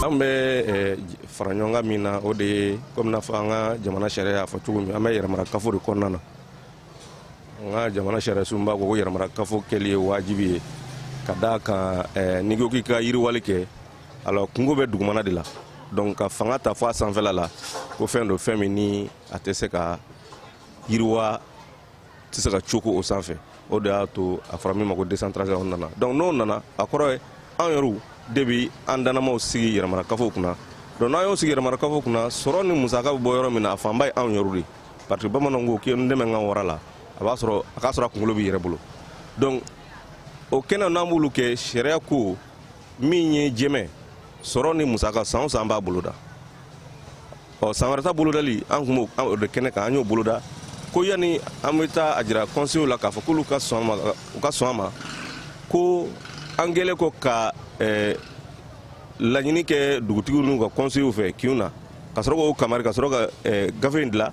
An bɛ fara ɲɔgɔn kan min na o de ye kɔmi n'a fɔ an ka jamana sariya y'a fɔ cogo min an bɛ yɛrɛmarakafo de kɔnɔna na an ka jamana sariyasunba ko ko yɛrɛmarakafo kɛli ye wajibi ye ka d'a kan n'i ko k'i ka yiriwali kɛ alors kunko bɛ dugumana de la donc ka fanga ta fɔ a sanfɛla la ko fɛn don fɛn min ni a tɛ se ka yiriwa tɛ se ka cooko o sanfɛ o de y'a to a fɔra min ma ko décentralisation nana donc n'o nana a kɔrɔ ye an yɛrɛw de bi an danamaw sigi yɛrɛmarakafo kunna donc n'an y'o sigi yɛrɛmarakafo kunna sɔrɔ ni musaka bɛ bɔ yɔrɔ min na a fanba ye anw yɛrɛw de ye parce que bamananw ko k'i ye n dɛmɛ n ka wara la a b'a sɔrɔ a k'a sɔrɔ a kunkolo b'i yɛrɛ bolo donc o kɛnɛ n'an b'olu kɛ sariya ko min ye jɛmɛ sɔrɔ ni musaka san o san an b'a boloda ɔ san wɛrɛ ta bolodali an kun b'o de kɛnɛ kan an y'o boloda ko yanni an bɛ taa a jira kɔnsew la k'a fɔ k'olu ka sɔn ma u ka sɔn a ma ko an kɛlen kɔ ka eh, laɲini kɛ dugutigiw n'u ka kɔnsew fɛ kinw na ka sɔrɔ k'o kamari ka sɔrɔ ka eh, gafe in dila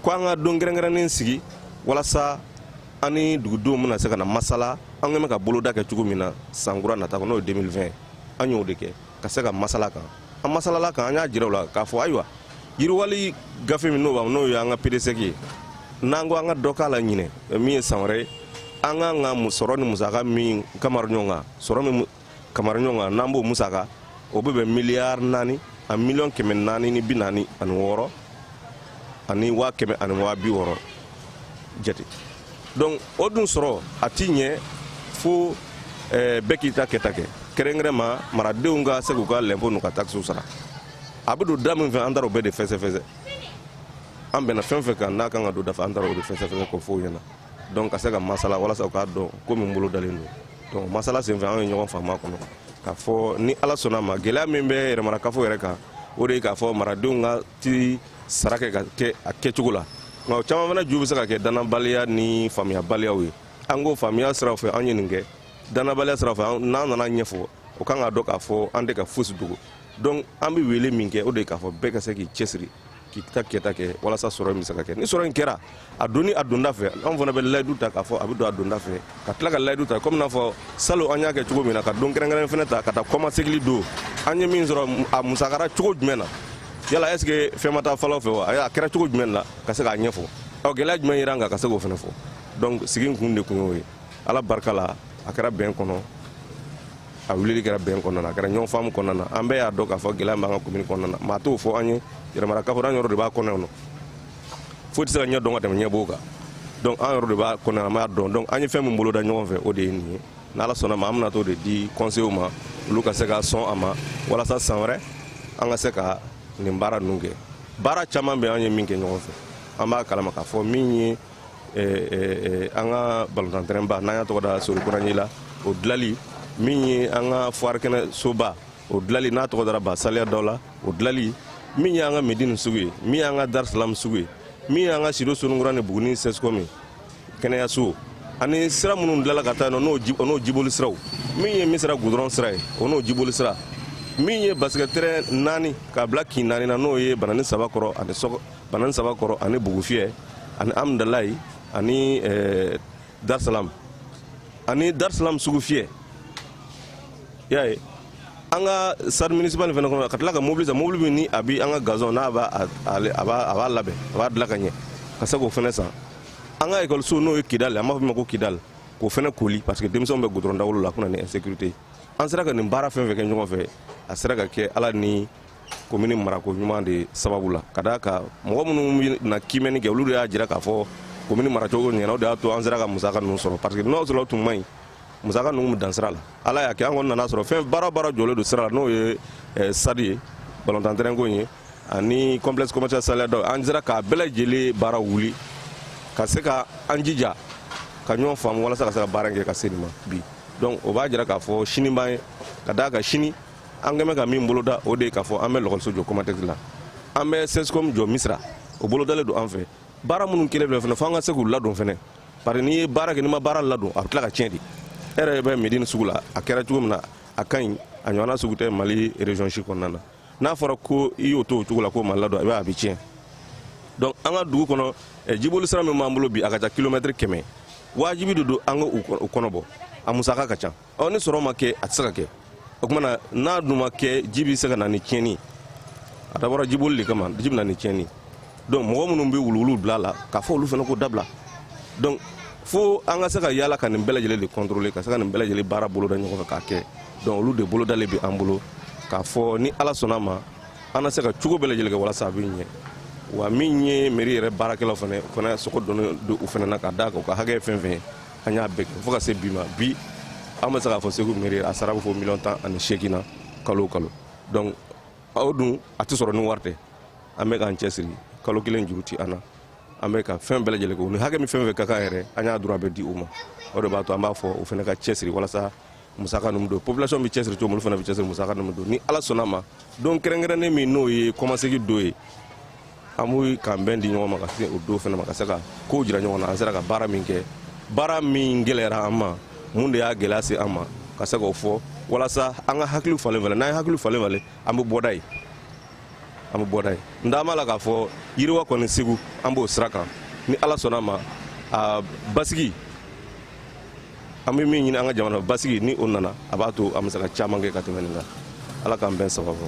ko an ka don kɛrɛnkɛrɛnnen sigi walasa an ni dugudenw bɛna se ka na masala an kɛn bɛ ka boloda kɛ cogo min na san kura nata kɔnɔ n'o ye 2020 an y'o de kɛ ka se ka masala kan an masalala kan an y'a jira u la k'a fɔ ayiwa yiriwali gafe min n'o n'o ye an ka PDSEC ye n'an ko an ka dɔ k'a la ɲinɛ min ye san wɛrɛ ye an kan ka sɔrɔ ni musaka min kamara ɲɔgɔn kan sɔrɔ min kamara ɲɔgɔn kan n'an b'o musaka o bɛ bɛn miliyari naani a miliyɔn kɛmɛ naani ni bi naani ani wɔɔrɔ ani waa kɛmɛ ani waa bi wɔɔrɔ jate donc o dun sɔrɔ a ti ɲɛ fo eh, bɛɛ k'i ta kɛta kɛ kɛrɛnkɛrɛnma maradenw ka se k'u ka lɛnpo n'u ka takisiw sara a bɛ don da min fɛ an taara o bɛɛ de fɛsɛfɛsɛ an bɛnna fɛn fɛn kan n'a kan ka don da fɛ an taara o de fɛsɛfɛsɛ k'o fɔ u ɲɛna donc ka se ka masala walasa u k'a dɔn ko min bolodalen don donc masala senfɛ an ye ɲɔgɔn faamu a kɔnɔ k'a fɔ ni ala sɔnna ma gɛlɛya min bɛ yɛrɛmarakafo yɛrɛ kan o de ye k'a fɔ maradenw ka ti sara kɛ ka kɛ a kɛcogo la nka o caman fana ju bɛ se ka kɛ dannabaliya ni faamuyabaliyaw ye an ko faamuya siraw fɛ an ye nin kɛ dannabaliya siraw fɛ n'an nana ɲɛfɔ o kan ka dɔn k'a fɔ an tɛ ka fosi dogo donc an bɛ wele min kɛ o de ye k'a fɔ bɛɛ ka se k'i cɛsiri k'i ta kɛta kɛ walasa sɔrɔ in bɛ se ka kɛ ni sɔrɔ in kɛra a donni a donda fɛ an fana bɛ layidu ta k'a fɔ a bɛ don a donda fɛ ka tila ka layidu ta komi n'a fɔ salon an y'a kɛ cogo min na ka don kɛrɛnkɛrɛn fana ta ka taa kɔmasegili don an ye min sɔrɔ a musakara cogo jumɛn na yala est ce que fɛn ma taa fan dɔ fɛ wa a kɛra cogo jumɛn la ka se k'a ɲɛfɔ ɔ gɛlɛya jumɛn yera an kan ka se k'o fana fɔ donc sigi in kun de kun y'o ye ala barika la a kɛra bɛn kɔnɔ a wulili kɛra bɛn kɔnɔna na a kɛra ɲɔgɔn faamu kɔnɔna na an bɛɛ y'a dɔn k'a fɔ gɛlɛya b'an ka komini kɔnɔna na maa t'o fɔ an ye yɛrɛmarakafo an yɛrɛw de b'a kɔnɔ yan nɔ foyi tɛ se ka ɲɛ dɔn ka tɛmɛ ɲɛ b'o kan donc an yɛrɛ de b'a kɔnɔ an b'a dɔn donc an ye fɛn min boloda ɲɔgɔn fɛ o de ye nin ye n'ala sɔnna ma an bɛna t'o de di conseilw ma olu ka se ka sɔn a ma walasa san wɛrɛ an ka se ka nin baara ninnu kɛ baara caman bɛ an ye min kɛ ɲɔgɔn fɛ an b'a kalama k'a fɔ min ye eh, eh, eh, an ka balontan terɛnba n'an y'a tɔgɔ da sori konanji la o dilali min ye an ka foire kɛnɛ soba o dilali n'a tɔgɔ dara ba saliya daw la o dilali min y'an ka medini sugu ye min y'an ka darisalamu sugu ye min y'an ka sido soninkura ni buguni sɛsikɔm ye kɛnɛyaso ani sira minnu dilala ka taa yen nɔ n'o n'o jiboli siraw min ye misira gudɔrɔn sira ye o n'o jiboli sira min ye basikɛti terɛn naani k'a bila kin naani na n'o ye banani saba kɔrɔ ani sɔgɔ banani saba kɔrɔ ani bugufiyɛ ani amudalayi ani ɛɛ darisalamu ani darisalamu sugufiyɛ i y'a ye an ka stade municipal nin fana kɔnɔ ka tila ka mobili san mobili min ni a bi an ka gazon n'a b'a a b'a labɛn a b'a dilan ka ɲɛ ka se k'o fana san an ka ekɔliso n'o ye kidali an b'a fɔ min ma ko kidali k'o fana koli parce que denmisɛnw bɛ gudɔrɔn dawolo la a kuna ni insécurité an sera ka nin baara fɛn fɛn kɛ ɲɔgɔn fɛ a sera ka kɛ ala ni komini marako ɲuman de sababu la ka d'a kan mɔgɔ minnu na kiimɛni kɛ olu de y'a jira k'a fɔ komini maracogo ɲɛna o de y'a to an sera ka musaka ninnu sɔrɔ parce que n'o sɔrɔ tun man ɲi musaka ninnu bɛ dan sira la ala y'a kɛ an kɔni nana sɔrɔ fɛn baara baara jɔlen don sira la n'o ye eh, stade ye balontan terɛnko in ye ani complexe commercial saliya daw an sera k'a bɛɛ lajɛlen baara wuli ka se ka an jija ka ɲɔgɔn faamu walasa ka se ka baara in kɛ ka se nin ma bi donc o b'a jira k'a fɔ sini b'an ye ka d'a kan sini an kɔni bɛ ka min boloda o de ye k'a fɔ an bɛ lakɔliso jɔ komatɛkisi la an bɛ sɛsikɔm jɔ misira o bolodalen don an fɛ baara minnu kɛlen filɛ fana fo an ka se k'u ladon fana bari n'i ye baara kɛ n'i ma baara ladon a bɛ tila ka tiɲɛ de e yɛrɛ bɛ medini sugu la a kɛra cogo min na a ka ɲi a ɲɔgɔnna sugu tɛ mali region si kɔnɔna na n'a fɔra ko i y'o to o cogo la k'o ma ladon i b'a a bɛ tiɲɛ donc an ka dugu kɔnɔ eh, jiboli sira min b'an bolo bi a ka ca kilomɛtiri kɛmɛ wajibi de don an ka u kɔnɔ bɔ a musaka ka ca ɔ ni sɔrɔ ma kɛ a tɛ se ka kɛ o tuma na n'a dun ma kɛ ji bɛ se ka na ni tiɲɛni a dabɔra jiboli de kama ji bɛ na ni tiɲɛni donc mɔgɔ minnu bɛ wuluwulu bila a la k'a fɔ olu fana k'o dabila donc fo an ka se ka yaala ka nin bɛɛ lajɛlen de contrôler ka se ka nin bɛɛ lajɛlen baara boloda ɲɔgɔn fɛ k'a kɛ donc olu de bolodalen bɛ an bolo k'a fɔ ni ala sɔnna ma an na se ka cogo bɛɛ lajɛlen kɛ walasa a bɛ ɲɛ wa min ye meri yɛrɛ baarakɛlaw fana fana sogo donnen don u fana na ka d'a kan u ka hakɛ ye fɛn fɛn ye an y'a bɛɛ kɛ fo ka se bi ma bi an bɛ se k'a fɔ segu mairie a sara bɛ fo miliyɔn tan ani seegin na kalo o kalo donc o dun a tɛ sɔrɔ ni wari tɛ an bɛ k'an cɛsiri kalo kelen juru ti an na an bɛ ka fɛn bɛɛ lajɛlen kɛ u ni hakɛ min fɛn fɛn ka kan yɛrɛ an y'a droit bɛɛ di u ma o de b'a to an b'a fɔ u fana ka cɛsiri walasa musaka ninnu don population bɛ cɛsiri cogo min olu fana bɛ cɛsiri musaka ninnu don ni ala sɔnna ma don kɛrɛnkɛrɛnnen min n'o ye kɔmasegi don ye an b'u k'an bɛn di ɲɔgɔn ma ka se o don fana ma ka se ka kow jira ɲɔgɔn na an sera ka baara min kɛ baara min gɛlɛyara an ma mun de y'a gɛlɛya se an ma ka se k'o fɔ walasa an ka hakiliw falen falen n'an ye hakiliw falen falen an bɛ bɔda ye an bɛ bɔda ye n da b'a la k'a fɔ yiriwa kɔni segu an b'o sira kan ni ala sɔnna ma a basigi an bɛ min ɲini an ka jamana basigi ni o nana a b'a to an bɛ se ka caman kɛ ka tɛmɛ nin kan ala k'an bɛn sababu